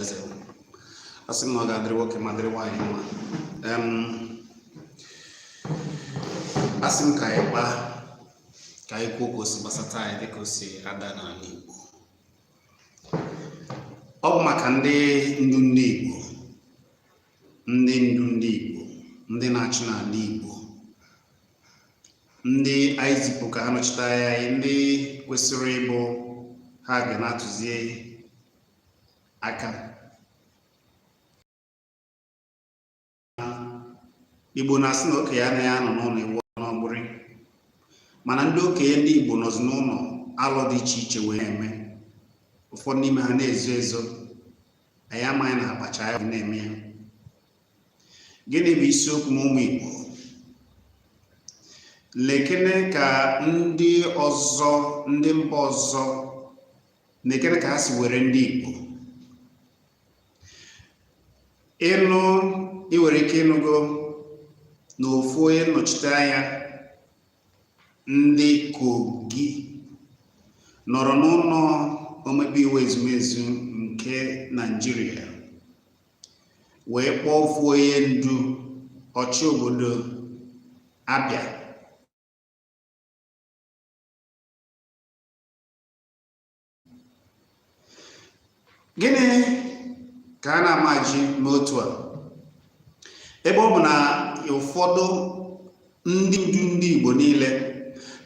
eze asị m na ọ ga-adịrị nwoke ma dịrị nwaanyị mma Em, asị m ka anyị kpaa ka anyị kwuo ka o si gbasata anyị dịka o si ada n'ala Igbo ọ bụ maka ndị ndu ndị Igbo ndị ndu ndị Igbo ndị na-achị n'ala Igbo ndị anyị zipụ ka ha nọchite anya anyị ndị kwesịrị ịbụ ha ga na-atụzi aka igbo na-asị na okenye anaghị anọ n'ụlọ ewu n'ọgbụrị mana ndị okenye ndị igbo nọzi n'ụlọ alụ dị iche iche wee na-eme ụfọdụ n'ime ha na-ezo ezo anyị amaghị na a kpacha anya na-eme ya gịnị bụ isiokwu m ụmụ igbo nekene ka ndị ọzọ ndị mba ọzọ nekene ka ha si were ndị Igbo ịnụ ị nwere ike ịnụgo na ofu onye nnọchite anya ndị Kogi nọrọ n'ụlọ omebe iwu ezumezu nke Naịjirịa wee kpọọ ofu onye ndu ọchị obodo Abia gịnị ka a na-amaji me otu a ebe ọ bụ na ụfọdụ ndị ndu ndị Igbo niile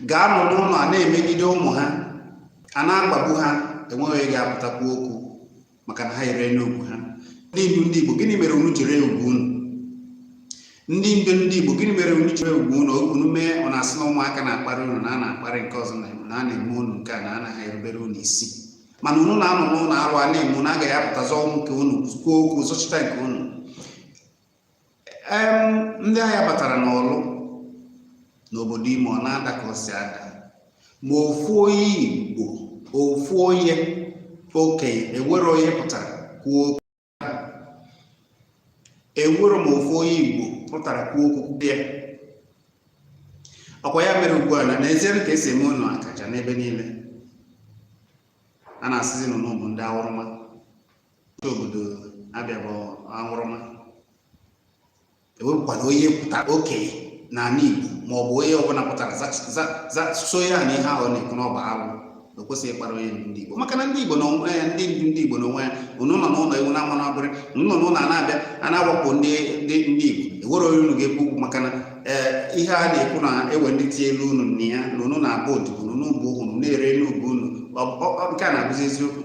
ga-anọ n'ụlọ a na-emegide ụmụ ha a na-akpagbu ha enweghị ga-apụta kwuo okwu maka na ha erena ugwu ha ndị ndu ndị Igbo gịnị mere unu ji ree ugwu unu ndị ndu ndị Igbo gịnị mere unu ji ree ugwu unu unu mee ọ na-asị na ụmụaka na-akparị unu na a na-akparị nke ọzọ na na a na-eme unu nke a na anaghị erubere unu isi mana unu na-anọ n'ụlọ arụ a na-eme unu agaghị apụta zọọ nke unu kwuo okwu zọchita nke unu ndị agha batara n'Ọlụ n'obodo Imo ọ na-ada ka o si ada ma ofu onye igbo ofu onye okenye enwerọ onye pụtara kwuo okwu enwerọ ma ofu onye igbo pụtara kwuo okwu dị ya ọkwa ya mere ugbu a na n'ezie ka e si eme unu akaja n'ebe niile a na-asịzi na unu bụ ndị aṅụrụma isi obodo Abia bụ aṅụrụma ewepụkwana onye pụtara okenye n'ala Igbo ma ọ bụ onye ọbụla pụtara sị ya na ihe ahụ na-ekwu na ọ bụ alụ o kwesịghị ịkparị onye ndu ndị Igbo maka na ndị Igbo na onwe ya ndị ndu ndị Igbo na onwe ya unu nọ n'ụlọ ewu na-amụ n'ọgbụrị unu nọ n'ụlọ a na-abịa a na-agbagbu ndị Igbo enwerọ onye unu ga-ekwu okwu maka na eh, ihe a na-ekwu na ewe ndị tie elu unu na ya na unu na-abụ odibo unu bụ unu na-ere ugwu unu nke a na-abụzi eziokwu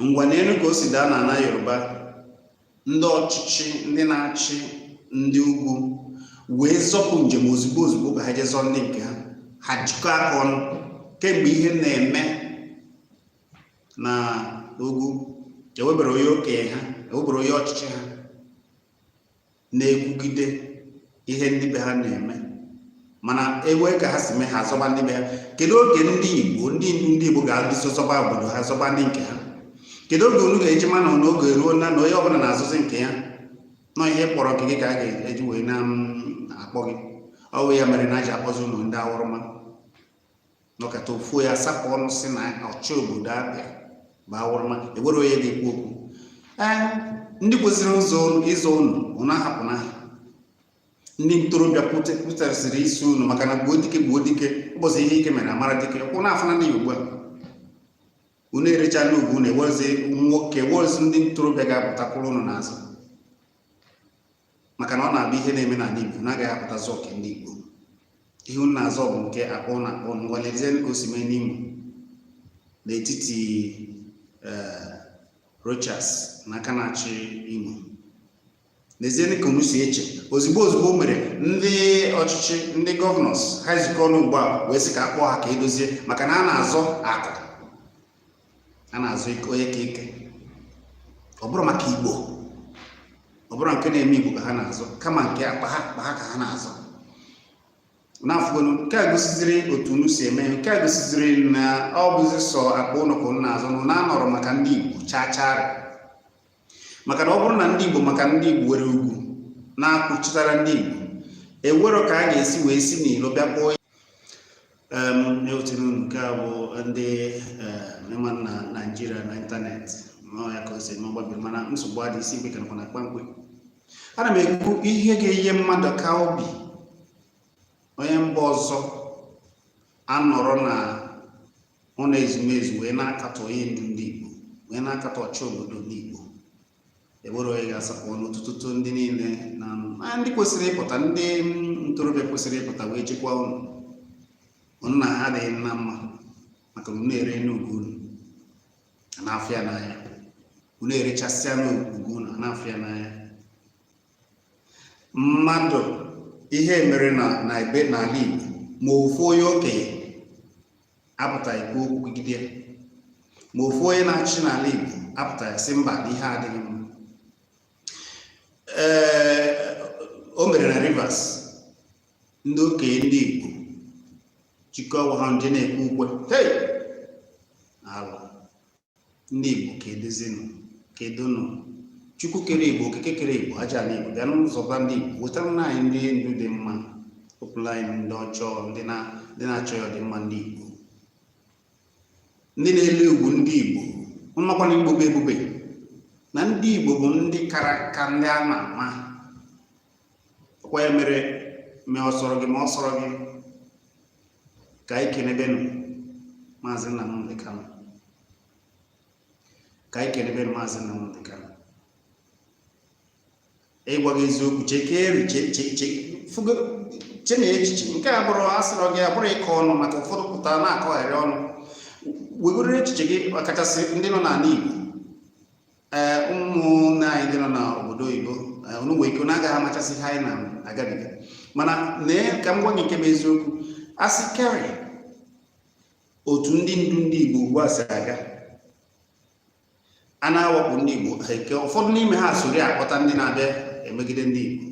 ngwa neenụ ka o si daa n'ala yoruba ndị ọchịchị ndị na-achị ndị ugwu wee zọpụ njem ozugbo ozugbo ka ha jee zọọ ndị nke ha ha jikọ aka ọnụ kemgbe ihe na-eme na ugwu ewebero onye okenye ha ewebero onye ọchịchị ha na-ekwugide ihe ndị be ha na-eme mana ewe ka ha si mee ha azọba ndị be ha kedu oge ndị igbo ndị ndu ndị igbo ga-adụso zọba obodo ha zọba ndị nke ha kedu oge unu ga-eji ma na oge eruo na na onye ọbụla na-azọzi nke ya na ọ ihe ị kpọrọ nke gị ka a ga-eji wee na-akpọ gị ọ bụ ya mere na aji akpọzi unu ndị awụrụma nọkata ofu onye asapụ ọnụ sị na ọchị obodo abịa bụ awụrụma ewero onye ga-ekwu okwu ee ndị kwesịrị ụzọ ịzọ unu unu ahapụna ha ndị ntorobịa pụtasịrị isi unu maka na gbuo dike gbuo dike ụbọchị ihe ike mere a mara dike kwụ na afụna ya ugbu a unu erechala ugwu unu ewerozi nwoke ewerozi ndị ntorobịa ga-apụtakwuru unu n'azụ maka na ọ na-abụ ihe na-eme n'ala Igbo unu agaghị apụta zọọ nke ndị Igbo ihe unu na-azọ bụ nke akpa unu akpa unu ngwa lezienụ ka o si mee n'Imo n'etiti eh, Rochas na aka na-achị Imo nezienụ ka unu si eche ozugbo ozugbo o mere ndị ọchịchị ndị gọvanọs ha ezukọọ ọnụ ugbu a wee sị ka a kpọọ ha ka e dozie maka na ha na-azọ akụ ha na-azọ ike onye ka ike ọ bụrọ maka igbo ọ bụrọ nke na-eme igbo ka ha na-azọ kama nke akpa ha akpa ha ka ha na-azọ unu afụgonụ nke a gosiziri otu unu si eme nke a gosiziri na ọ bụzi sọ akpa unu ka unu na-azọ unu anọrọ maka ndị igbo chaa chaa maka na ọ bụrụ na ndị Igbo maka ndị Igbo were ugwu na-akwụchitara ndị Igbo ewero ka a ga-esi wee si n'ilo bịa kpọọ ewetara unu nke a bụ ndị ịma na Naịjirịa na ịntanetị ma ya ka o si eme ọgbabiri mana nsogbu adị isi mgbe kanakwa na kpamkpe ana m ekwu ihe ga-enye mmadụ ka obi onye mba ọzọ anọrọ na ụlọ ezumezu wee na-akatọ onye ndu ndị Igbo wee na-akatọ ọchị obodo ndị Igbo ewero onye ga-asapụ ọnụ tụtụtụ ndị niile na ndị kwesịrị ịpụta ndị ntorobịa kwesịrị ịpụta wee chekwaa unu unu na ha adịghị na mma maka na unu erena ugwu unu n'afịa n'anya unu erechasịana ugwu unu n'afịa n'anya mmadụ ihe mere na na ebe n'ala Igbo ma ofu onye okenye apụta ikwu okwu kwugide ya ma ofu onye na-achị n'ala Igbo apụta ya sị mba na ihe adịghị mma ee o mere na Rivers ndị okenye ndị Igbo chịkọọ onwe ha jee na-ekwe ukwe hey! alụ ndị Igbo keduzinụ kedunụ Chukwu kere Igbo okike kere Igbo aja ala Igbo bịanụ zọba ndị Igbo wetaranụ anyị ndị ndu dị mma wepụrụ anyị ndị ọjọọ ndị na-achọghị ọdịmma ndị Igbo ndị na-ele ugwu ndị Igbo makwa na Igbo bụ ebube na ndị Igbo bụ ndị kara ka ndị a ma ama ọkwa ya mere ma ọ sọrọ gị ma ọ sọrọ gị ka anyị kenebenu maazị Nnamdi Kanu ka anyị kenebenu maazị Nnamdi Kanu ịgwa gị eziokwu chekeri che n'echiche nke a abụrọ a sọrọ gị abụrọ ịkọ ọnụ maka ụfọdụ pụta na-akọgharị ọnụ wegoro echiche gị ọkachasị ndị nọ n'ala Igbo ee ụmụnne anyị ndị nọ n'obodo oyibo unu nwere ike unu agaghị amachasị ihe anyị na-agabiga mana lee ka m gwa gị nke bụ eziokwu a sị kerị otu ndị ndu ndị Igbo ugbu a si aga a na-awakpo ndị Igbo eke ụfọdụ n'ime ha sori akpọta ndị na-abịa emegide ndị Igbo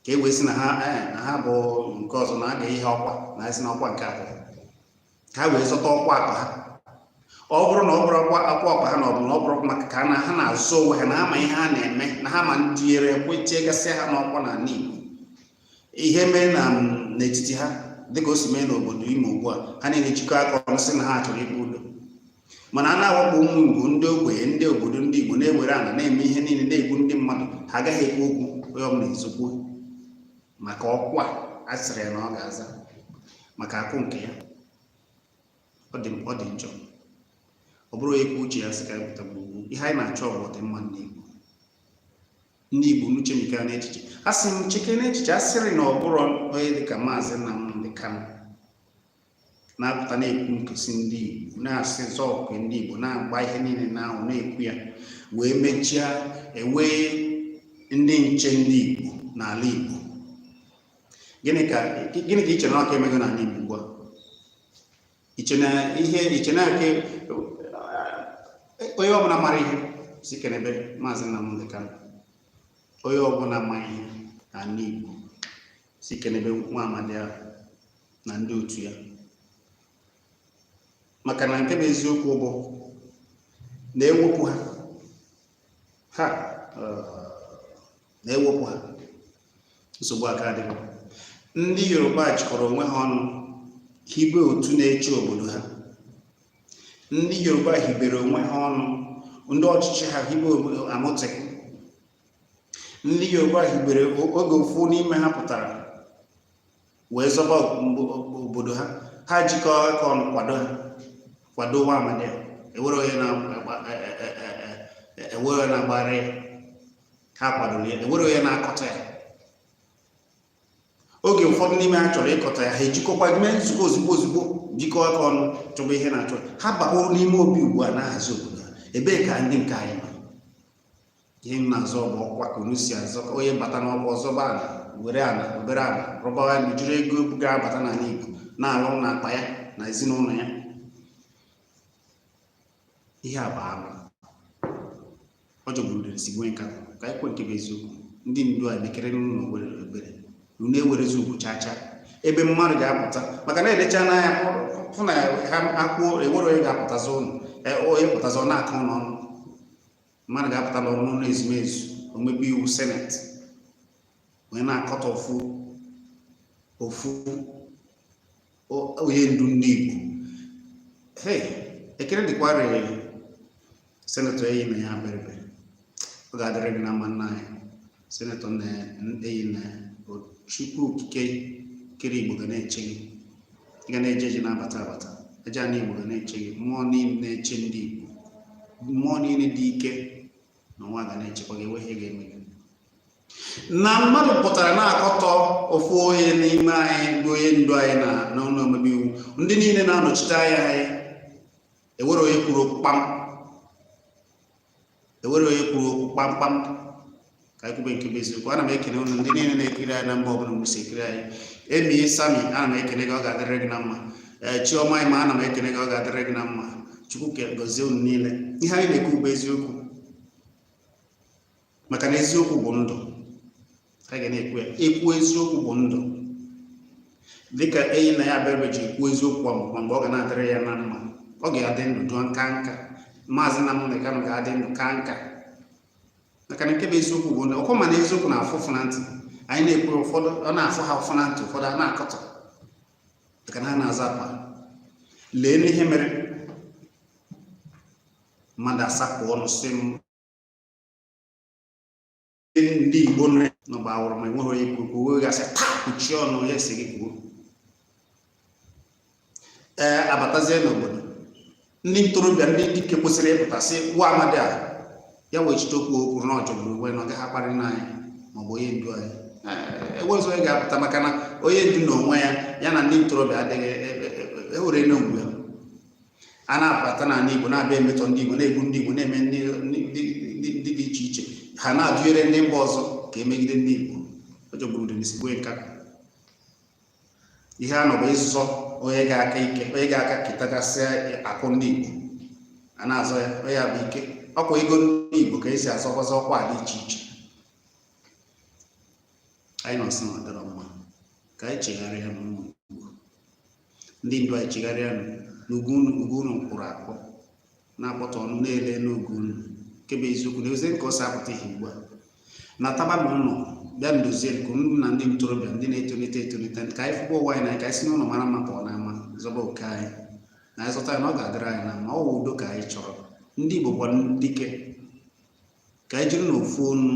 ka e wee sị na ha eh, na ha bụ nke ọzọ na-aga ihe ọkwa na esi na ọkwa nke abụọ ka ha wee zọta ọkwa akpa ha ọ bụrụ na ọ bụrụ akwa akwa akpa ha na ọ bụ na ọ bụrụ maka ka na ha na-azụ onwe ha na ha ma ihe ha na-eme na ha ma ndị nyere aka wee tie gasịa ha n'ọkwa n'ala Igbo ihe mee na n'etiti ha dịka o si mee n'obodo Imo ugbu a ha niile ejikọ aka ọnụ sị na ha chọrọ ikpe udo mana a na-awakpo ụmụ Igbo ndị ogbenye ndị obodo ndị Igbo na-ewere ana na-eme ihe niile na-egbu ndị mmadụ ha agaghị ekwu okwu onye ọbụla ezokwu maka ọkwa a sịrị ya na ọ ga-aza maka akụ nke ya ọ dị ọ dị njọ ọ bụrụ onye kwuo uche ya sị ka anyị pụta gbugbu ihe anyị na-achọ bụ ọdịmma ndị Igbo ndị Igbo unu chemike n'echiche a sị m cheke n'echiche a sịrị na ọ bụrụ onye dịka maazị Nnamdi Kanu na-apụta na-ekwu nkụsi ndị Igbo na-asị zọọkụ ndị Igbo na-agba ihe niile ahụ na-ekwu ya wee mechaa hiwe ndị nche ndị Igbo n'ala Igbo gịnị ka ị chere na ọ ka emego n'ala Igbo ugbu a i che na ihe i che na aka onye ọbụla mara ihe sị kenebe maazị Nnamdi Kanu onye ọbụla ma ihe n'ala Igbo sị kenebe nwa amadi ahụ na ndị otu ya maka na nke bụ eziokwu bụ na ewepụ ha ha na ewepụ ha nsogbu aka adị ndị Yoruba jikọrọ onwe ha ọnụ hibe otu na-eche obodo ha ndị Yoruba hibere onwe ha ọnụ ndị ọchịchị ha hibe Amotekun ndị yoruba hibere oge ofu n'ime ha pụtara wee zọba obodo ha ha jikọ aka ọnụ kwado ha kwado nwa amadi a enwere onye na-agbara ya ha kwadoro ya enwere onye na-akọtọ ya oge ụfọdụ n'ime ha chọrọ ịkọtọ ya ha ejikọkwa mee nzukọ ozugbo ozugbo jikọọ aka ọnụ chọba ihe na-achọ ha bakpuru n'ime obi ugbu a na-ahazi obodo ha ebee ka ndị nke anyị nọ ihe m na-azọ bụ ọkwa ka unu si azọ ka onye bata n'ọkwa ọ zọba ala were ala obere ala rụbawa ya mejuru ego ga-abata n'ala Igbo na-ala na akpa ya na ezinụlọ ya ihe a bụ alụ ọ jọgburu udele sigbue nkakwụ ka anyị kwe nke bụ eziokwu ndị ndu a mekere n'ụlọ obere obere unu enwerozi ugwu chaa chaa ebe mmadụ ga-apụta maka na e lecha unu anya fụ na ha akwụo enwere onye ga-apụtazi unu onye pụtazi ọ na-akọ unu ọnụ mmadụ ga-apụta na ọnụ ụlọ ezumezu omebe iwu seneti wee na-akọtọ ofu ofu onye ndu ndị Igbo hey ekele dịkwara senetọ enyinnaya abaribe ọ ga-adịrị gị na mma nna anyị senetọ enyinnaya chukwu okike kere igbo ga na-eche gị ị ga na-eje eje na-abata abata ajana igbo ga na-eche gị mmụọ niile na-eche ndị igbo mmụọ niile dị ike n'ụwa ga na-echekwa gị enweghị ihe ga-eme gị na mmadụ pụtara na-akọtọ ofu onye n'ime anyị bụ onye ndu anyị na n'ụlọ omebe iwu ndị niile na-anọchite anya anyị enwere onye kwuru okwu kpam enwere onye kwuru okwu kpamkpam ka anyị kwube nke bụ eziokwu ana m ekele unu ndị niile na-ekiri anyị na mba ọbụla unu si ekiri anyị emi sami ana m ekele gị ọ ga-adịrị gị na mma ee chiọma ịma ana m ekele gị ọ ga-adịrị gị na mma chukwu gọzie unu niile ihe anyị na-ekwu bụ eziokwu maka na eziokwu bụ ndụ a ga na-ekwu ya ekwu eziokwu bụ ndụ dịka enyinnaya abaribe ji ekwu eziokwu a mgbe mgbe ọ ga na-adịrị ya na mma ọ ga-adị ndụ ka nka maazị nnamdi kanu ga-adị ndụ ka nka maka na nke bụ eziokwu bụ ndụ ọkwa mana eziokwu na-afụ ụfụ na ntị anyị na-ekwu ụfọdụ ọ na-afụ ha ụfụ na ntị ụfọdụ a na-akọtọ maka na ha na-azọ akpa leenụ ihe mere mmadụ asapụ ọnụ sị m ndị Igbo nọ gbawụrụ ma enweghị onye kwuru kwuo ga-asị taa kpuchie ọnụ onye sị gị kwuo ee abatazie n'obodo ndị ntorobịa ndị dike kwesịrị ịpụta sị nwa amadi a ya wechite okwu o kwuru na ọ jọgburu onwe na ọ gaghị akparị nna anyị maọbụ onye ndu anyị enwezi onye ga-apụta maka na onye ndu na onwe ya ya na ndị ntorobịa adịghị ewere e, e, e, na mgbe a na-abata n'ala Igbo na-abịa emetọ ndị Igbo na-egbu ndị Igbo na-eme ndị dị iche iche ha na-adụnyere ndị mba ọzọ ka emegide ndị Igbo ọ jọgburu udele sigbuo nkapị ihe a nọ bụ ịzọ onye ga-aka ike onye ga-aka ketagasịa akụ ndị Igbo a na-azọ ya onye ya bụ ike ọkwa ego ndị Igbo ka esi azọkwazi ọkwa dị iche iche anyị nọ sị na ọ dịrọ mma ka anyị chegharịanụ ụmụ ndị ndu anyị chegharịa n'ugwu unu ugwu unu kwụrụ akpọ na-akpọtụ ọnụ na-ele n'ugwu unu nke bụ eziokwu na eze nke ọ si apụta ihe ugbu a nataba n'ụlọ bịanụ dozie nke unu na ndị ntorobịa ndị na-etolite etolite ka anyị fụkwa ụwa anyị na ka anyị si n'ụlọ mara mma pụọ n'ama zọba oke anyị na anyị zọta ya na ọ ga-adịrị anyị na mma ọ wụ udo ka anyị chọrọ ndị Igbo bụkwa dike ka anyị jirinụ ofu onu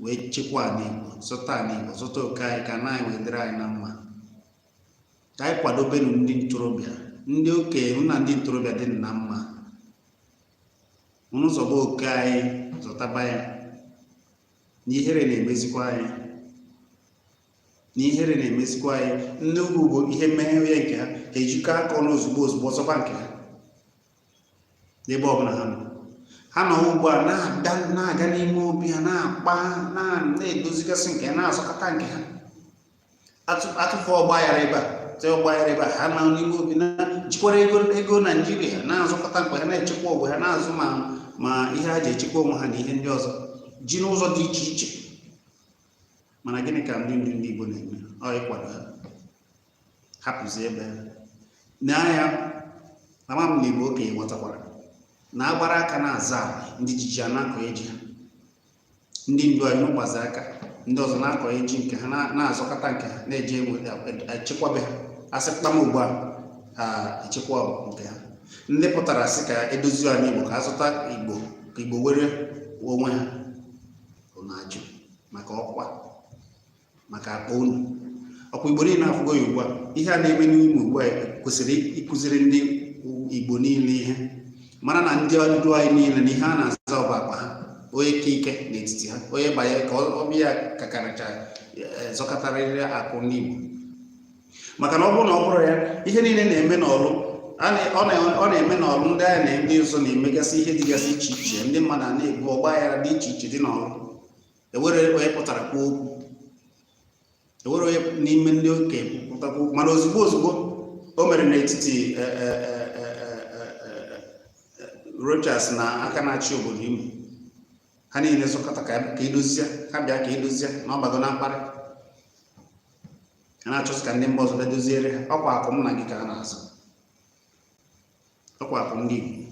wee chekwa ala Igbo zọta ala Igbo zọta oke anyị ka ana anyị wee dịrị anyị na mma ka anyị kwadobenu ndị ntorobịa ndị okenye na ndị ntorobịa dị na mma unu zọba oke anyị zọtaba ya na ihere na-emezikwa anyị na ihere na-emezikwa anyị ndị ugwu bụ ihe mee onye nke ha ha ejikọ aka ọnụ ozugbo ozugbo zọba nke ha n'ebe ọbụla ha nọ ha nọ ugbu a na-aga n'ime obi ha na-akpa na-edozigasị nke ha na-azọkọta nke ha atụfu ọgba aghara ebe a te ọgba aghara ebe a ha nọ n'ime obi ha jikwara ego naijiria na-azọkọta nke ha na-echekwa ogbe ha na-azụ ma ihe ha ji echekwa onwe ha na ihe ndị ọzọ ji n'ụzọ dị iche iche mana gịnị ka ndị ndu ndị igbo na-eme ọ ịkwado ha hapụzi ebe na ya na ma m na igbo okenye nwetakwara na agbara aka na-azọ ana ndị ji ji a na-akọ ji ha ndị ndu anyị unu gbazi aka ndị ọzọ na-akọ ji nke ha na-azọkọta nke ha na-eji echekwa be ha asị kpam ugbu a ha echekwa nke ha ndị pụtara sị ka edozi ana igbo ka azọta igbo ka igbo were onwe ha unu na-ajụ maka ọkwa maka akpa unu ọkwa igbo niile afụgo ya ugbu a ihe a na-eme n'imo ugbu a kwesịrị ịkụziri ndị igbo niile ihe mara na ndị ndu anyị niile na ihe ha na-azọ bụ akpa ha onye ka ike n'etiti ha onye bụ onye ka ibe ya kakarịcha eh, zọkọtarịrị akụ ndị igbo maka na ọ bụrụ na ọ bụrọ ya ihe niile na-eme n'ọlụ ọ na-eme n'ọlụ ndị agha na ndị ọzọ na-emegasị ihe dịgasị iche iche ndị mmadụ a na-egbu ọgba aghara dị iche iche dị n'ọlụ enwere onye pụtara kwuo okwu enwere onye n'ime ndị okenye pụta kwuo okwu mana ozugbo ozugbo o mere n'etiti e, e, e, Rochas na aka na-achị obodo Imo ha niile zukọta ka edozie ha bịa ka edozie na ọbago na mkparị a na-achọzi ka ndị mba ọzọ bịa doziere ha ọkwa akụ m na gị ka a na-azọ ọkwa akụ ndị Igbo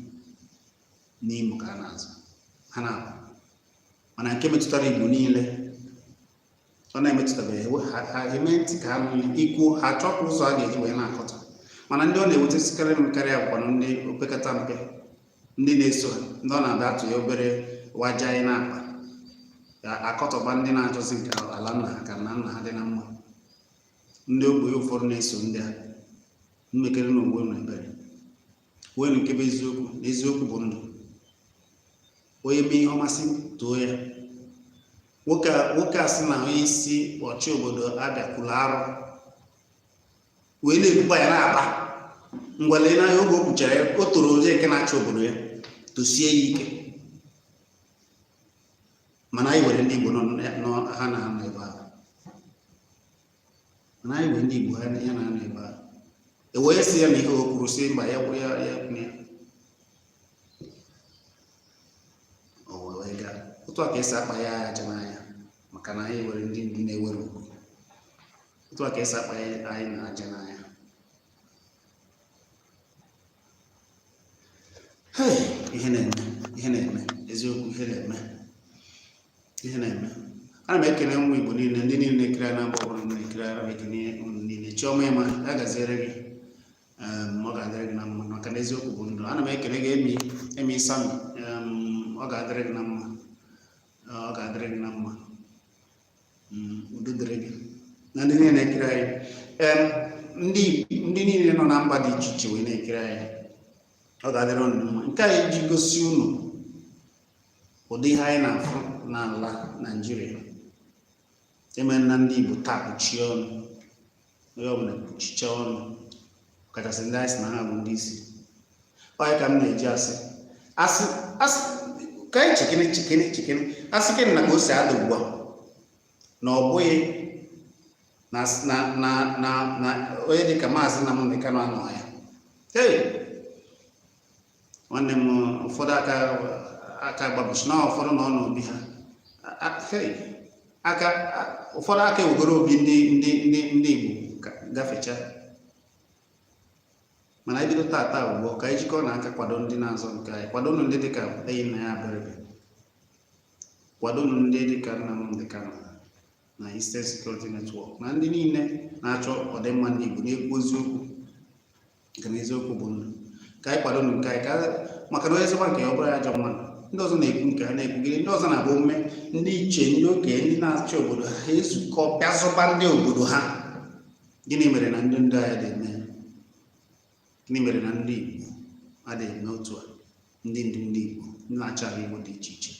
n'Imo ka a na-azọ ha na-akụ mana nke metụtara Igbo niile ọ na-emetụtabeghị ha eme ntị ka ha nụnye ikwuo ha chọpụ ụzọ a ga-eji wee na-akọta mana ndị ọ na-ewutesikarị m karịa bụkwanụ ndị opekata mpe ndị na-eso ha ndị ọ na-abịa atụ ya obere waja anyị na-akpa akọtọba ndị na-achọzi nke ala nna ha ka nna nna ha dị na mma ndị ogbenye ụfọdụ na-eso ndị a mmekere na ogbe na ebere kwuo nke bụ eziokwu na eziokwu bụ ndụ onye mee ihe ọma sị too ya nwoke a sị na onye isi ọchị obodo Abịa kwuru arụ wee na-ekwukwa ya na-aba ngwale n'anya oge o kwuchara ya o toro onye nke na-achị obodo ya tosie ya ike mana anyị nwere ndị Igbo nọ ha na ha nọ ebe ahụ mana anyị nwere ndị Igbo ha ya na-anọ ebe a e wee sị ya na ihe o kwuru sị mba ya kwụrụ ya ya kwụrụ ya o wee gaa otu a ka esi akpa ya aja n'anya maka na anyị nwere ndị ndu na-enwerọ ugwu otu a ka esi akpa anyị na aja n'anya ihe na-eme ihe na-eme eziokwu ihe na-eme ihe na-eme ana m ekele ụmụ Igbo niile ndị niile na-ekiri na mba ọbụla na-ekiri ana m ekele unu niile chiọma ịma ya gaziere gị ehm, ọ ga-adịrị gị na mma maka na eziokwu bụ ndụ ana m ekele gị emi emi sami ehm, ọ ga-adịrị gị na mma ọ ga-adịrị gị na mma udo dịrị gị na ndị niile na-ekiri anyị ndị ndị niile nọ na mba dị iche iche wee na-ekiri anyị ọ ga-adịrị unu mma nke anyị ji gosi unu ụdị ihe anyị na-afụ n'ala Naịjirịa eme na ndị Igbo taa kpuchie ọnụ onye ọbụla kpuchicha ọnụ kachasị ndị anyị sị na ha bụ ndị isi onye ka m na-eji asị asị asị ka anyị chikini chikini chikini asị gị na ka o si adị ugbu a na ọ bụghị na na na na na onye dịka maazị Nnamdi Kanu anọ ya hey nwanne m ụfọdụ aka aka gbabụchi na ụfọdụ nọ n'obi ha aka ụfọdụ aka ewegoro obi ndị ndị ndị ndị Igbo gafecha mana anyị bido tata bụ gboo ka anyị jikọọnụ aka kwado ndị na-azọ nke anyị kwado nụ ndị dịka Enyinnaya Abaribe kwado nụ ndị dịka Nnamdi Kanu na Eastern Security Network na ndị niile na-achọ ọdịmma ndị Igbo na-ekwu eziokwu nke na eziokwu bụ ndụ ka anyị kwado nke anyị maka na onye zọba nke ya ọ bụrụ ya ajọ mmadụ ndị ọzọ na-ekwu nke ha na-ekwugide ndị ọzọ na-abụ o mee ndị ichie ndị okenye ndị na-achị obodo ha ezukọ bịa zọba ndị obodo ha gịnị mere na ndị ndu anyị adịghị eme gịnị mere na ndị Igbo adịghị eme otu a ndị ndu ndị Igbo ndị na-achị ala Igbo dị iche iche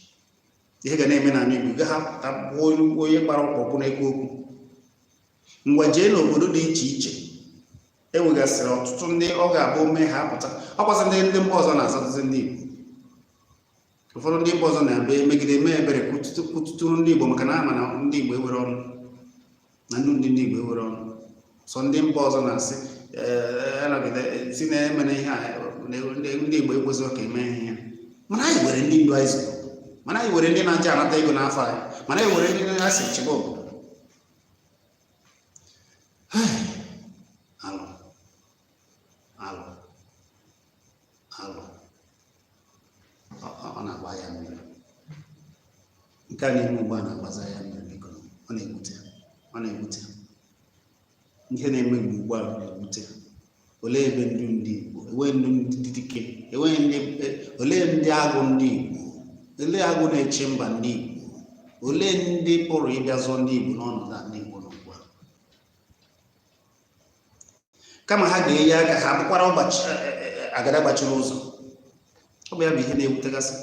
ihe ga na-eme n'ala Igbo gaghị apụta onye gbara ọkpọkwụ na-ekwu okwu ngwa jee n'obodo dị iche iche e nwegasịrị ọtụtụ ndị ọ ga-abụ o mee ha apụta ọ kwazị ndị ndị mba ọzọ na-azatụzi ndị Igbo ụfọdụ ndị mba ọzọ na-ebe megide eme ebere kwutụtụrụ ndị Igbo maka na a ma na ndị Igbo enwerọ ọnụ na ndị ndị Igbo enwerọ ọnụ sọ ndị mba ọzọ na-asị eh, sị na emena ihe a ndị Igbo ekwesịghị ka e mee ihe a mana anyị nwere ndị ndu anyị zụrụ mana anyị nwere ndị na-eje anata ego n'afa anyị mana anyị nwere ndị na-asị chịba obodo alụ alụ alụ ọ na-agba anya mmiri nke a na-eme ugbu a na-agbazi anya mmiri biko ọ na-ewute ọ na-ewute ihe na-eme ugbu ugbu a na-ewute olee ebe ndu ndị Igbo enweghị ndu ndị dike enweghị ndị e, olee ndị agụ ndị Igbo olee agụ na-eche mba ndị Igbo olee ndị pụrụ ịbịa zọọ ndị Igbo n'ọnọdụ a ndị Igbo nọ ugbu a kama ha ga-enye aka ha bụkwara e, e, agada gbachiri ụzọ ọ bụ ya bụ ihe na-ewutegasị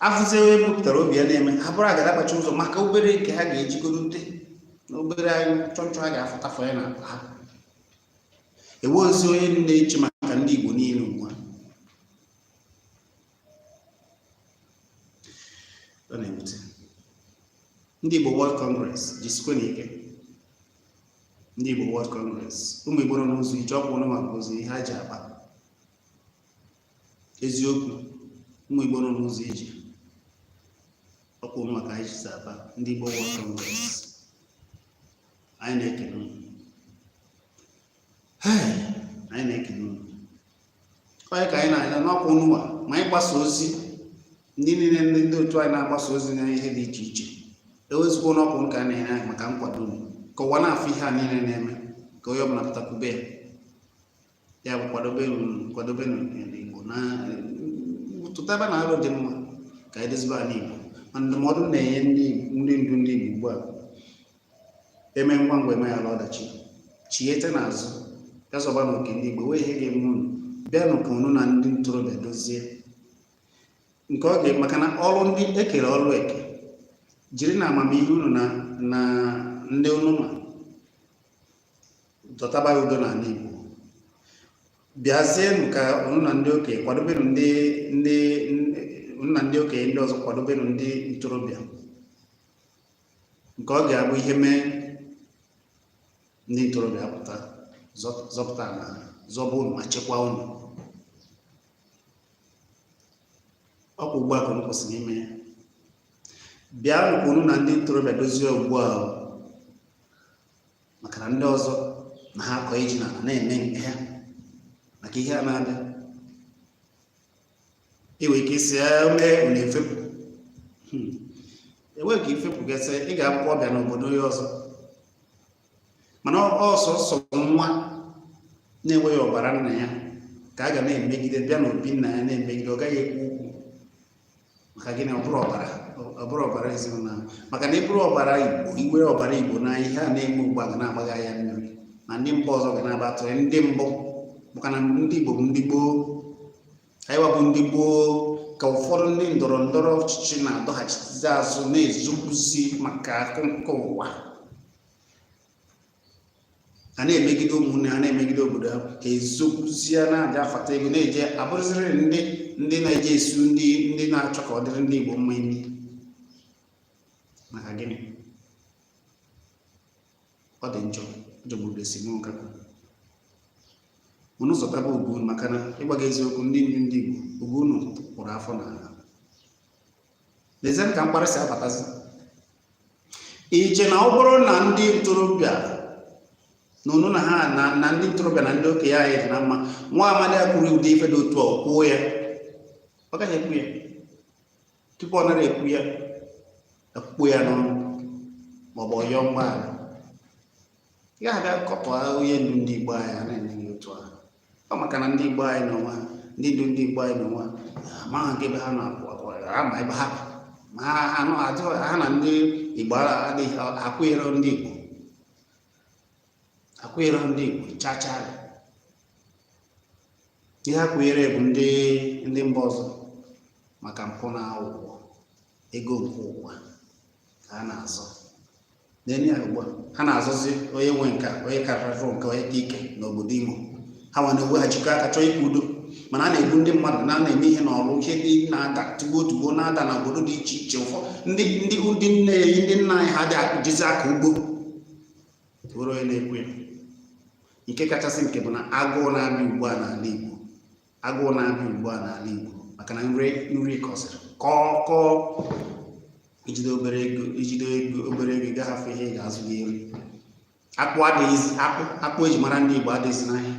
a fụzi onye bupụtara obi ya na-eme ha bụrụ agada gbachiri ụzọ maka obere nke ha ga-ejigoro ute na obere anyị chọnchọ ha ga-afụtafọ ya na ha enweghịzi onye na-eche maka ndị Igbo niile ugbu a ndị Igbo World Congress jisikwanụ ike ndị Igbo World Congress ụmụ Igbo nọ n'ụzọ ije ọkwa unu ma ka o si ihe ha ji akpa eziokwu ụmụ Igbo nọ n'ụzọ ije ọkwa unu ma ka anyị ji akpa ndị Igbo World Congress anyị na-ekele unu anyị na-ekele unu onye ka anyị na-anya n'ọkwa unuwa ma anyị gbasa ozi ndị niile ndị ndị otu anyị na-agbasa ozi na ihe dị iche iche ewezụkwa n'ọkwa unu ka a na-enye anyị maka nkwado unu ka ụwa na-afụ ihe a niile na-eme ka onye ọbụla pụta kwube ya ya bụ kwadobe kwadobe n'Igbo na tụtabanụ aro dị mma ka edozibe ala Igbo ma ndụmọdụ m na-enye ndị ndị ndu ndị Igbo ugbu a eme ngwa ngwa emeghara ọdachi chiete n'azụ ya zọbanụ oke ndị Igbo wee ihe ga-eme unu bịanụ ka unu na ndị ntorobịa dozie nke ọ ga maka na ọrụ ndị ekere ọrụ eke jirinụ amamihe unu na ndị unu ma dọtabanụ udo n'ala Igbo bịazienụ ka unu na ndị okenye kwadobenụ ndị ndị unu na ndị okenye ndị ọzọ kwadobenụ ndị ntorobịa nke ọ ga-abụ ihe mee ndị ntorobịa apụta zọpụta na zọba unu ma chekwaa unu ọkwa ugbu a ka unu kwesịrị ime ya bịanụ ka unu na ndị ntorobịa dozie ugbu a maka na ndị ọzọ na ha akọ ji n'ala na-eme nke ha maka ihe a na-abịa iwe ike isi o mee unu efepụ hmm. enwe ka ị fepụ gasị ị ga-abụkwa ọbịa n'obodo onye ọzọ mana ọ sọsọ nwa na-enweghị ọbara nna ya ka a ga na-emegide bịa n'obi nna ya na-emegide ọ gaghị ekwu okwu maka gịnị ọ bụrọ ọbara ọ bụrọ ọbara ezinụlọ ahụ maka na ị bụrụ ọbara igbo i nwere ọbara igbo na ihe a na-eme ugbu a ga na-agba gị anya mmiri na ndị mba ọzọ ga na-aba atụrụ ndị mbụ maka na ndị igbo bụ ndị gboo anyịwa bụ ndị gboo ka ụfọdụ ndị ndọrọ ndọrọ ọchịchị na-adọghachizi azụ na-ezobuzi maka akụ nke ụwa a na-emegide ụmụnne ha na-emegide obodo ha ka ezobuzie na-aja afata ego na-eje abụrụziri ndị ndị na-eje esu ndị ndị na-achọ ka ọ dịrị ndị Igbo mma imi maka gịnị ọ dị njọ ọ jọgburu esemokwu ka unu zọtaba ugwu unu maka na ịgwa gị eziokwu ndị ndu ndị Igbo ugwu unu kpụrụ afọ n'ala lezienụ ka mkparị si abatazi iche na ọ bụrụ na ndị ntorobịa na unu na ha na ndị ntorobịa na ndị okenye anyị dị na mma nwa amadi a kwuru ụdị ife dị otu a o kwuo ya ọ gaghị ekwu ya tupu ọ nara ekwu ya akụkpọọ ya n'ọnụ maọbụ ọ yọọ mgbaghara ị ga-abịa kọba onye ndu ndị Igbo anyị ọnụ dị otu ahụ ọ maka na ndị Igbo anyị n'onwe ha ndị ndu ndị Igbo anyị n'onwe ha amaghị nke ebe ha na-akwụ ama ebe ha ma anụ ajụ ha na ndị Igbo adịghị akwụnyere ndị Igbo akwụnyerọ ndị Igbo chacha ndị ha kwụnyere bụ ndị ndị mba ọzọ maka mpụ na aghụghọ ego nke ụwa ka ha na-azọ na-enye ya ugbu a ha na-azọzi onye nwe nke onye karịrị nke onye ka ike n'obodo imo ha nwa na-eweghachikọ aka chọọ ikwu udo mana a na-egbu ndị mmadụ na na-eme ihe n'ọrụ ihe dị na-ada tugbo tugbo na-ada na obodo dị iche iche ụfọ ndị ndị ndị nne anyị ndị nna anyị ha dị akụjizi aka ugbo bụrụ onye na-ekwu ya nke kachasị nke bụ na agụụ na-abịa ugbu a n'ala igbo agụụ na-abịa ugbu a n'ala Igbo maka na nri nri kọsịrị kọọ kọọ ijide obere ego ijide ego obere ego gaghị afụ ihe ị ga-azụ gị eri akpụ adịghịzi akpụ akpụ eji mara ndị Igbo adịghịzi n'ahịa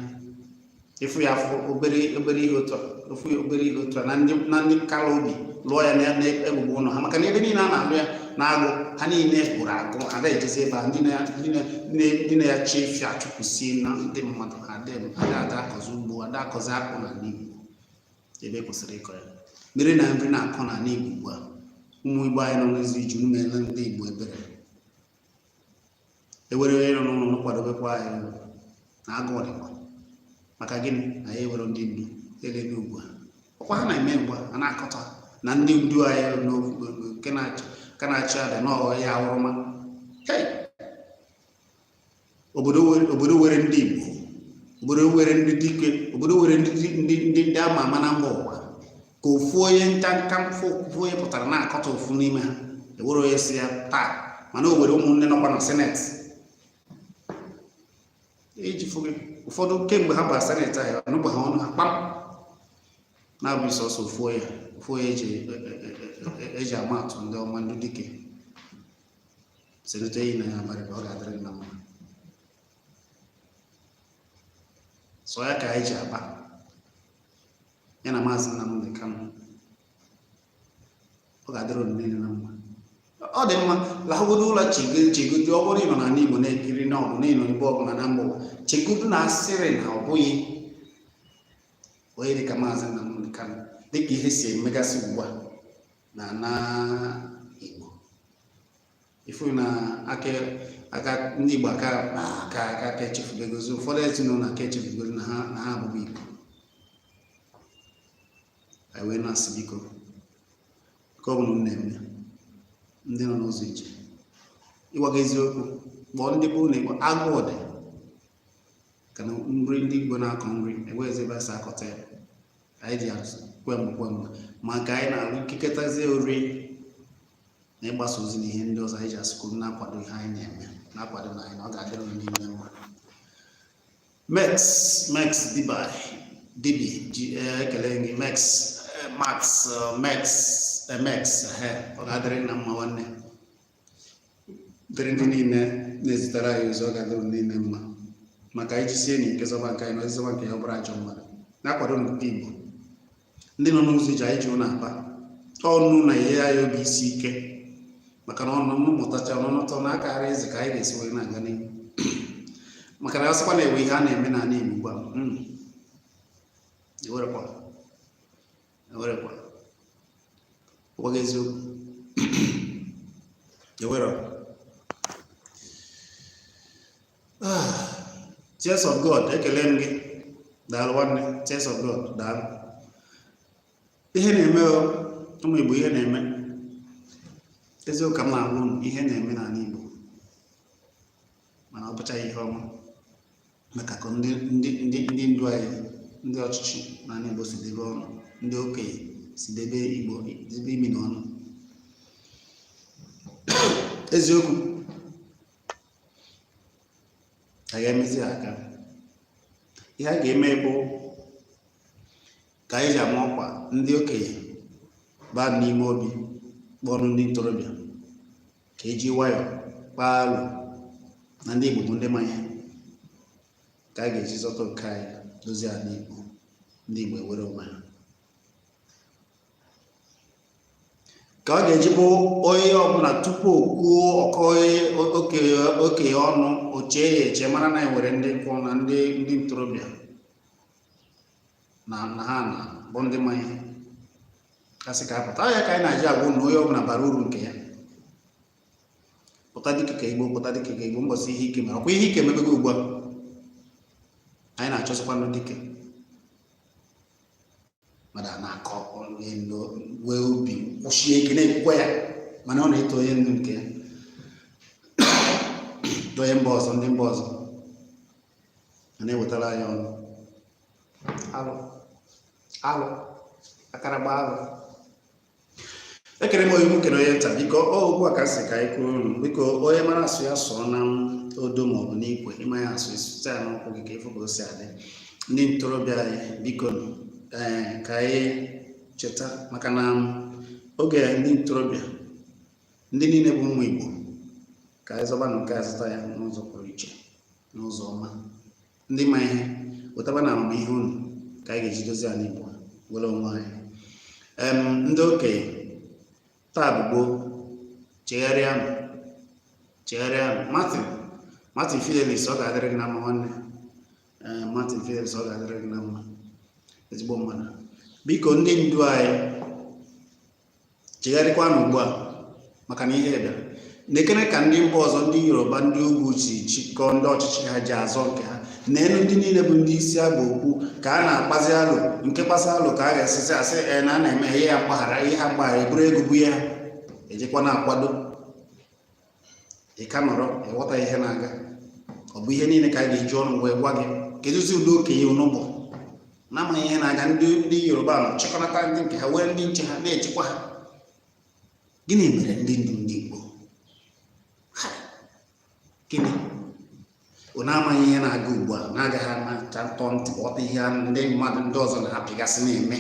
ịfụ ya afụ obere obere ihe otu ofu obere ihe otu na ndị na ndị kara obi lụọ ya na mbubo ụlọ ha maka na ebe niile a na-alụ ya n'agụ ha niile gwụrụ agwụ ada ejezi ebe a ndị na-achị efi achụpụsiela ndị mmadụ adị m ada ada akọzi ugbo ada akọzi akpụ n'ala igbo ebe e kwesịrị ịkọ ya mere na nri na-akọ n'ala igbo ugbu a ụmụ igbo anyị nọ n'ụzọ ije meere ndị igbo ebere i nwere onye nọ n'ụlọ kwadobekwa anyị na agụụ dịkwa maka gịnị na anyị enwerọ ndị ndu elele ugbu a ọkwa ha na-eme ugbu a na-akọta na ndị ndu anyị nke na-achị adị n'ọghọ ya awụrụma obodo nwere ndị Igbo obodo nwere ndị dike obodo nwere ndị ndị ndị ama ama na mba ụwa ka ofu onye nka nka ofu onye pụtara na-akatọ ofu n'ime ha enwerọ onye sị ya taa mana o nwere ụmụnne nọkwa na seneti iji e fụgị ụfọdụ kemgbe ha bara seneti ahụ anụbeghị ọnụ ha kpam na-abụghị sọsọ ofu onye ofu onye eji e, e, ama atụ ndị ọma ndị dike senetọ Enyinnaya Abaribe ọ ga-adịrị na mma sọ ya ka anyị ji aba ya na maazị Nnamdi Kanu ọ ga-adịrị unu niile na mma ọ dị mma lahagodo ụlọ chegodo ọ bụrụ ịnọ n'ala Igbo na-ekiri ma ọbụ na ịnọ ebe ọbụla na mba ụwa chegodo na a sịrị na ọ bụghị onye dị ka maazị Nnamdi Kanu dịka ihe si emegasị ugbu a n'ala Igbo ifu na aka aka ndị Igbo aka aka aka aka echefubegozi ụfọdụ ezinụlọ aka echefubegozi na ha na ha abụghị Igbo anyị wee na-asị biko ka ọ bụ ụmụnne m ndị nọ n'ụzọ ije ịgwa gị eziokwu kpọọ ndị be unu n'Igbo agụụ dịkwa na nri ndị Igbo na-akọ nri enweghịzi ebe a si akọta ya anyị ji asụ kwem kwem maka anyị na-arụ ikekọtazie ori na ịgbasa ozi na ihe ndị ọzọ anyị ji asị ka unu na-akwado ihe anyị na-eme na-akwadonụ anyị na ọ ga-adịrị unu niile mma mex mex diba dibi ji eh, ekele gị mex eh, max eh, mex eh, mex eh, ọ ga-adịrị gị na mma nwanne dịrị ndị niile na-ezitere anyị ozi ọ ga-adịrị niile mma maka anyị jisienụ ike zọba nke anyị na onye zọba nke ya ọ bụrụ ajọ mmadụ na-akwado nke Igbo ndị nọ n'ụzọ ije anyị ji unu akpa ọnụ na-enye anyị obi isi ike maka na ọnụ mmụtacha ọnụnụtọ na akara eze ka anyị ga-esi wee na-aga n'ihu maka na a sịkwa na-ewe ihe a na-eme n'ala Igbo ugbu a ewerekwa ewerekwa agwa gị eziokwu ewere ah, Tears of God ekele m gị daalụ nwanne Tears of God daalụ ihe na-eme ụmụ Igbo ihe na-eme eziokwu ka m na-agwa unu ihe na-eme n'ala Igbo mana ọ bụchaghị ihe ọma maka ka ndị ndị ndị ndị ndu anyị ndị ọchịchị n'ala Igbo si debe ọnụ ndị okenye si debe Igbo debe imi na ọnụ eziokwu a ga-emezi aka ihe a ga-eme bụ ka anyị ji ama ọkwa ndị okenye baa n'ime obi kpọrọ ndị ntorobịa ka e ji nwayọ kpaa alo na ndị Igbo bụ ndị ma ihe ka a ga-eji zọta nke anyị dozie ala Igbo ndị Igbo ewere onwe ha ka ọ ga-eji bụ onye ọbụla tupu o kwuo okwu okenye ọ nọọ chee ya eche mara na e nwere ndị nkwụ na ndị ndị ntorobịa na na ha na bụ ndị ma ihe ka a sị ka a pụta ya ka anyị na-eji agwa unu na onye ọbụla bara uru nke ya pụta dike nke Igbo pụta dike nke Igbo mbọsị ihe ike mere ọkwa ihe ike emebego ugbu a anyị na-achọsịkwa ndị dike mmadụ a na-akọ wee obi kwụsie ike na-ekwukwa ya mana ọ na-eto onye ndu nke ya onye mba ọzọ ndị mba ọzọ a na-ewetara anyị ọnụ alụ alụ akaragba alụ ekene m onye ukwu kene onye nta biko ọ ugbu a ka a sị ka anyị kọọrọ unu biko onye mara asụ ya sụọ na odo maọbụ n'ikwe ị maghị asụ ị sụta ya n'ụkwụ gị ka ị fụ ka o si adị ndị ntorobịa anyị biko ee eh, ka anyị cheta maka na oge ndị ntorobịa ndị niile bụ ụmụ Igbo ka anyị zọbanụ nke a zọta ya n'ụzọ pụrụ iche n'ụzọ ọma ndị ma ihe wetabanụ amamihe unu ka anyị ga-eji dozie ala Igbo were onwe anyị ndị okenye taa bụ gboo chegharịanụ chegharịanụ Martin Martin Fidelis ọ ga-adịrị gị na mma nwanne Martin Fidelis ọ ga-adịrị gị na mma ezigbo mmadụ biko ndị ndu anyị chegharịkwanụ ugbu a maka na ihe bịara nekene ka ndị mba ọzọ ndị yoruba ndị ugwu si chịkọọ ndị ọchịchị ha ji azọ nke ha n'elu ndị niile bụ ndị isi agba okwu ka a na-akpazi alụ nke kpasa alụ ka a ga-asịzi ESN a na-eme ihe ya mgbaghara ihe ha mgbaghara eburu ego bụ ya ejikwa na-akwado ị ka nọrọ ịghọta ihe na-aga ọ bụ ihe niile ka a ga-eji ọnụ wee gwa gị kedụzi ụdị okenye unu bụ na-amaghị ihe na-aga ndị ndị yoruba nọ chịkọnata ndị nke ha were ndị nche ha na-echekwa ha gịnị mere ndị ndu ndị igbo Ha! gịnị unu amaghị ihe na-aga ugbu a na-agaghị amacha tọọ ntị ghọta ihe ndị mmadụ ndị ọzọ na-apịgasị na-eme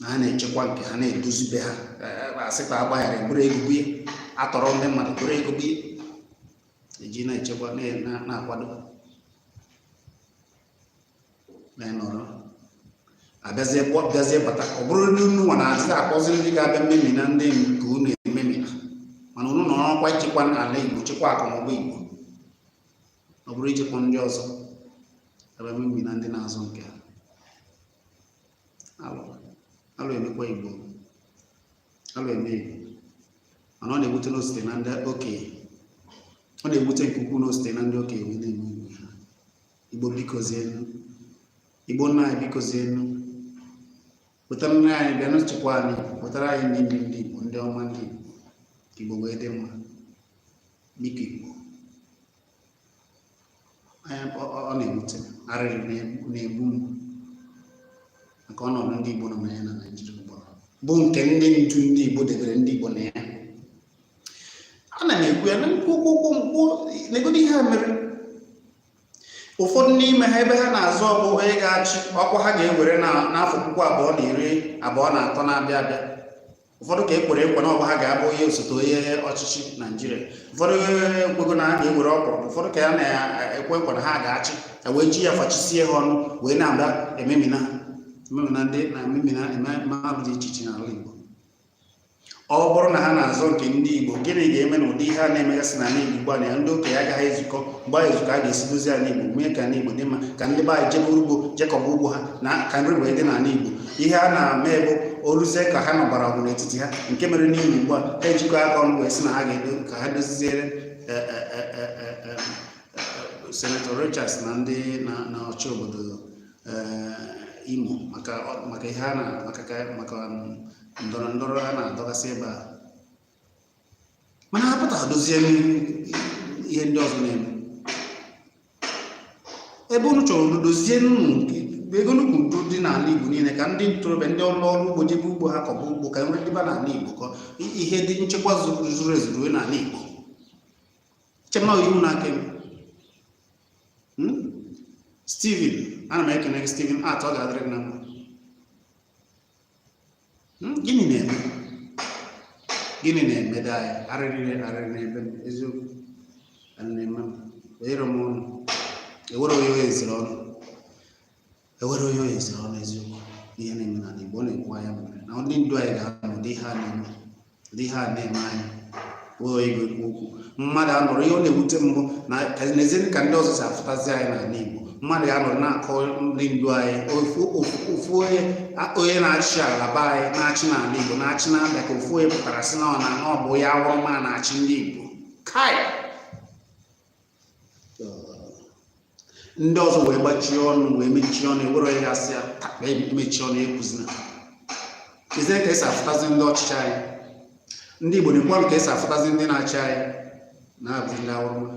na ha na-echekwa nke ha na-edozi be ha asịkwa agbaghara eburu ego bụ ya atọrọ ndị mmadụ buru ego bụ ya eji na-echekwa na-akwado na-enọrọ abịazie bịazie bata ọ bụrụ ndị unu nwa na-akpọzi ndị ga-abịa memina ndị nke unu ememina mana unu nọ n'ọkwa ichekwa ala igbo chekwa akụ na ụba igbo ọ bụrụ ichekwa ndị ọzọ abịa memina ndị na-azọ nke ha alụ alụ emekwa igbo alụ eme igbo mana ọ na-ewute na o site na ndị okenye ọ na-ewute nke ukwuu na o site na ndị okenye wee na-eme igbo ha igbo bikozienụ igbo nna anyị bikozienụ wetara nne anyị bịa na-echekwa anyị wetara anyị ndị ndu ndị igbo ndị ọma ndị igbo igbo wee dị mma biko igbo ọ na-ewute arịrị na-egbu m maka ọnọdụ ndị Igbo nọ na ya na Naịjirịa ugbu a bụ nke ndị ndu ndị Igbo debere ndị Igbo na ya ana m ekwu ya na nkwụkwụ ụkwụ nkwụ negodu ihe a mere ụfọdụ n'ime ha ebe ha na-azọ ọ bụ onye ga-achị ọkwa ha ga-ewere n'afọ puku abụọ na iri abụọ na atọ na-abịa abịa ụfọdụ ka e kwere ekwe na ọ bụ ha ga-abụ onye osote onye ọchịchị naijiria ụfọdụ ekwego na ha ga-ewere ọkpọrọ ụfọdụ ka a na-ekwe ekwe na ha ga-achị e wee ji ya fachisie ha ọnụ wee na-abịa ememina ememina ndị na-ememina mmadụ dị iche iche n'ala igbo ọ bụrụ na ha na-azọ nke ndị igbo gịnị ga-eme na ụdị ihe a na-emegasị n'ala igbo ugbu a na ya ndị okenye agaghị ezukọ mgbe anyị ezukọ a ga-esi dozie ala igbo mee ka ala igbo dị mma ka ndị be anyị jebe ugbo je kọba ugbo ha na ka nri wee dị n'ala igbo ihe a na m ekwu o luzie ka ha nụbara ọgụ n'etiti ha nke mere n'Imo ugbu a ha ejikọ aka ọnụ wee sị na ha ga-edo ka ha doziziere e, e, e, senetọ Rochas na ndị na-achị obodo Imo maka ihe a na maka um, ndọrọ ndọrọ a na-adọgasị ebe a mana ha pụta dozie ihe ndị ọzọ na-eme ebe unu chọrọ udo dozie ego nnukwu udo dị n'ala Igbo niile ka ndị ntorobịa ndị ọrụ ugbo jebe ugbo ha kọba ugbo ka nri dịba n'ala Igbo ka ihe dị nchekwa zuru ezu ruo n'ala Igbo chema iwu na-aka eme hmm? Steven ana m ekene gị Steven at ọ ga-adịrị gị na mma Hmm, gịnị na-eme gịnị na-emedị anyị arịrị arịrị n'ebe m eziokwu na-eme m onyere m ọnụ ewere onye onye eziri ọnụ ewere onye onye eziri ọnụ eziokwu ihe na-eme n'ala Igbo ọ na-agba anya mmiri na ndị ndu anyị ga-anọ ụdị ihe a na-eme dị ihe a na-eme anyị ejighị ekwu okwu mmadụ anọrọ ihe ọ na-ewute mụ na nezienụ ka ndị ọzọ si afụtazi anyị n'ala Igbo mmadụ ga-anọrọ na-akọ ndị ndu anyị ofu ofu- ofu onye a- onye na-achị ala be anyị na-achị n'ala Igbo na-achị na-abịa ka ofu onye pụtara sị na ọ na ọ bụ ya awụrụ ma na-achị ndị Igbo kai ndị ọzọ wee gbachie ọnụ wee mechie ọnụ ewere onye ga-asị ya takpa emechie ọnụ ekwuzina nezie ka esi afụtazi ndị ọchịchị anyị ndị Igbo nekwanụ ka esi afụtazi ndị na-achị anyị na-abụzi ndị awụrụma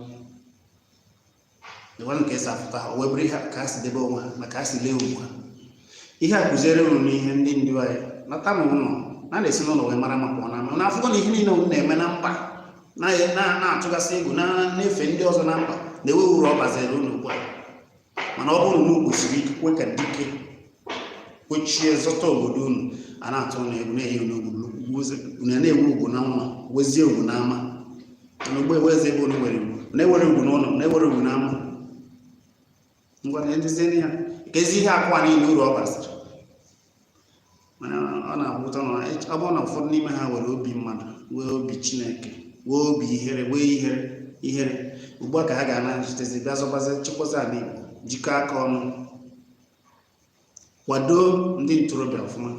nekwanụ ka esi afụta ha o wee bụrụ ihe ka ha si debe onwe ha maka ha si lee ugwu ha ihe a kụziere unu n'ihe ndị ndu anyị nata n'ụlọ na a na-esi n'ụlọ wee mara mma pụọ n'ama na afụgo na ihe niile unu na-eme na mba na-atụgasị egwu na-efe ndị ọzọ na mba na enwerọ uru ọ baziri unu ugbu a mana ọ bụrụ na unu kwụsie ike kwe ka dike kwechie zọta obodo unu a na-atụ unu egwu na-enye unu ugwu unu na-enwe ugwu n'ụlọ nwezie ugwu n'ama na ugbu a enwezi ebe unu nwere ugwu na enwerọ ugwu n'ụlọ na enwerọ ugwu n'ama ngwa na edozienụ ya keezi ihe akụ a niile uru ọ basịrị mana ọ na-abụ ụtọ na ọ bụrụ na ụfọdụ n'ime ha nwere obi mmadụ nwee obi Chineke nwee obi ihere nwee ihere ihere ugbu a ka ha ga-anatazi bịa zọbazi chekwazi ala Igbo jikọọ aka ọnụ kwado ndị ntorobịa ọfụma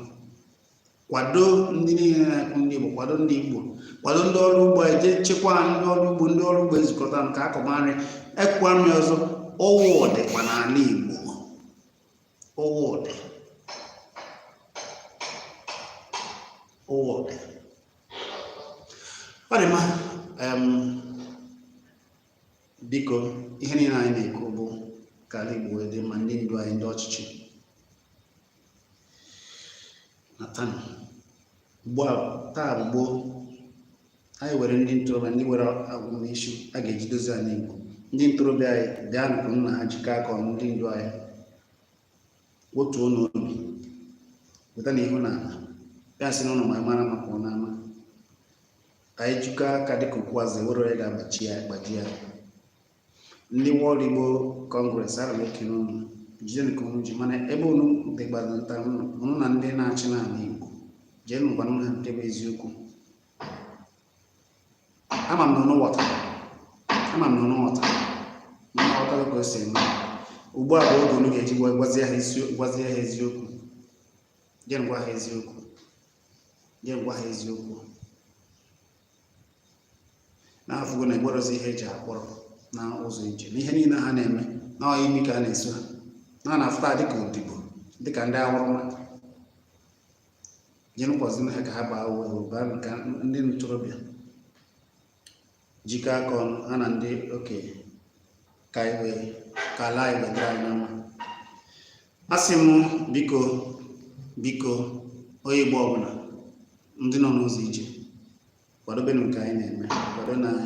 kwado ndị niile na-akụ ndị Igbo kwado ndị Igbo kwado ndị ọrụ ugbo je chekwa ndị ọrụ ugbo ndị ọrụ ugbo ezukọta ka akọba nri akọkwa nri ọzọ ugwu dịba n'ala Igbo ugwu dị ugwu dị ọ dị mma biko ihe niile anyị na-ekwu bụ ka ala Igbo wee dị mma ndị ndu anyị ndị ọchịchị natanụ ugbu a taa bụ gboo anyị nwere ndị ntorobịa ndị nwere agwụmisi a ga-eji dozi ala Igbo ndị ntorobịa anyị bịanụ ka unu na ha jikọ aka ọnụ ndị ndu anyị wetuonụ obi wetanụ ihu na ala ya si na ụlọ ma mara mma pụọ n'ama anyị jikọ aka dịka ukwu azịza enwerọ onye ga-agbaji ya ndị World Igbo Congress ana m ekele unu jide nke unu ji mana ebe unu dịgbado nta unu na ndị na-achị n'ala Igbo jeenụ gwanụ ha nke bụ eziokwu ama m na unu ghọtara ka o si eme ugbu a bụ oge unu ga-eji gwazie ha eziokwu jeenụ gwa ha eziokwu jeenụ gwa ha eziokwu na anyị afụgo na enwerọzi ihe eji akpọrọ na ụzọ ije na ihe niile ha na-eme na ọyị imi ka a na-eso ha na a na-afụta dịka odibo dịka ndị awụrụma jeenụ gwazienụ ha ka ha baa uwe baa nke ndị ntorobịa jikọ aka ọnụ ha na ndị okenye ka ala igbo ka ala anyị wee dịrị anyị na mma asị m biko biko onye igbo ọbụla ndị nọ n'ụzọ ije kwadobenụ nke anyị na-eme kwadonụ anyị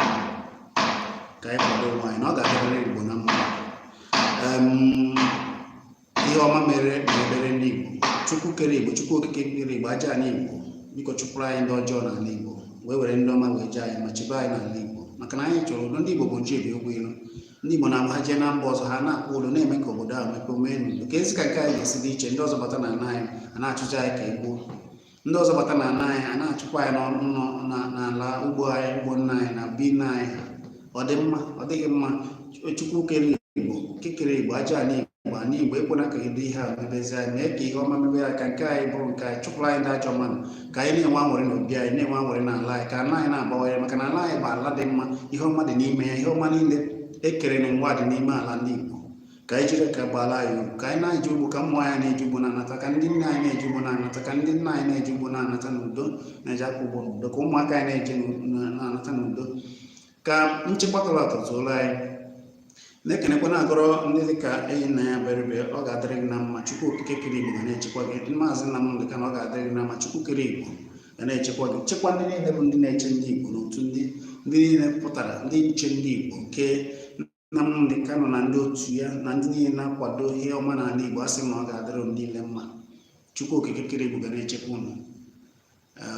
ka anyị kwado onwe anyị na ọ ga-adịrịrị igbo na mma ihe ọma mere mebere ndị Igbo Chukwu kere Igbo Chukwu okike kere Igbo aja ala Igbo biko chụpụrụ anyị ndị ọjọọ n'ala Igbo wee were ndị ọma wee nye anyị ma chebe anyị n'ala Igbo maka na anyị chọrọ udo ndị Igbo bụ oje mba enwe ilo ndị Igbo na-agba ha jee na mba ọzọ ha na-akpọ ụlọ na-eme ka obodo ahụ mepee omee n'udo kedụzi ka nke anyị ga-esi dị iche ndị ọzọ bata na ala anyị a na-achụzi anyị ka egbuo ndị ọzọ bata n'ala anyị ha na-achụkwa anyị n'ala ugbo anyị ugbo nna anyị na be nna anyị ha ọ dị mma ọ dịghị mma chukwu kere igbo okike kere igbo aja ala igbo ala igbo ekwena ka ụdị ihe a mebezi anyị mee ka ihe ọma mebe anyị ka nke anyị bụrụ nke anyị chụpụrụ anyị ndị ajọ mmadụ ka anyị na-enwe anwụrị n'obi anyị na-enwe anwụrị n'ala anyị ka ala anyị na-abawanye maka na ala anyị bụ ala dị mma ihe ọma dị n'ime ya ihe ọma niile ekere na ụwa dị n'ime ala ndị igbo ka anyị jiri ka ọ baara anyị uru ka anyị na-eje ugbo ka ụmụ nwanyị na-eje ugbo na-anata ka ndị nne anyị na-eje ugbo na-anata ka ndị nna anyị na-eje ugbo na-anata n'udo na-ejekwa ugbo n'udo ka ụmụaka anyị na-eje na-anata n'udo ka nchekwa tọrọ atọ dịrị anyị na-ekenekwa na-agọrọ ndị dị ka Enyinnaya Abaribe ọ ga-adịrị gị na mma chukwu okike kere igbo ga na-echekwa gị maazị Nnamdị Kanụ ọ ga-adịrị gị na mma chukwu kere igbo ga na-echekwa gị chekwa ndị niile bụ ndị na-eche ndị igbo n'otu ndị ndị niile pụtara ndị nche ndị igbo nke Nnamdi Kanu na ndị otu ya na ndị niile na-akwado ihe ọma n'ala Igbo asị m na ọ ga-adịrị unu niile mma Chukwu Okike kere Igbo ga na-echekwa unu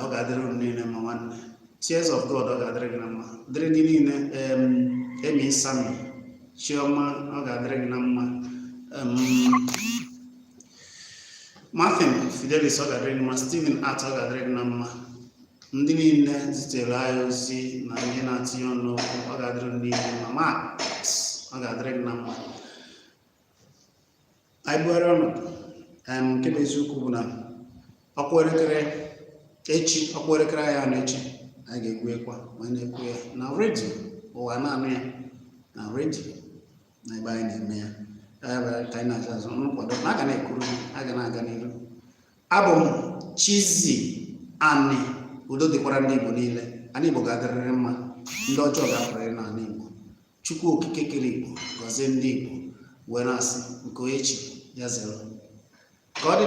ọ ga-adịrị unu niile mma nwanne Tears of God ọ ga-adịrị gị na mma dịrị ndị niile Emi Sami Chioma ọ ga-adịrị gị na mma Martin Fidelis ọ ga-adịrị gị na mma Stephen Art ọ ga-adịrị gị na mma ndị niile zitere anyị ozi na ihe na-atinye ọnụ n'okwu ọ ga-adịrị unu niile mma Max ọ ga-adịrị gị na mma anyị bugharị ọnụ em, nke bụ eziokwu bụ na ọkwa elekere echi ọkwa elekere anyị anọ echi anyị ga-ekwu ekwa ma anyị na-ekwu ya na redio ụwa na-anụ ya na redio na ebe anyị na-eme ya Anyị bịara ka anyị na-acha azụ nkwado na a ga na-ekuru a ga na-aga n'ihu abụ m Chizzy Ani udo dịkwara ndị Igbo niile ana Igbo ga-adịrịrị mma ndị ọjọọ ga-apụrịrị n'ala Igbo Chukwu okike kere Igbo gọzie ndị Igbo wee na-asị nke echi ya zero ka ọ dị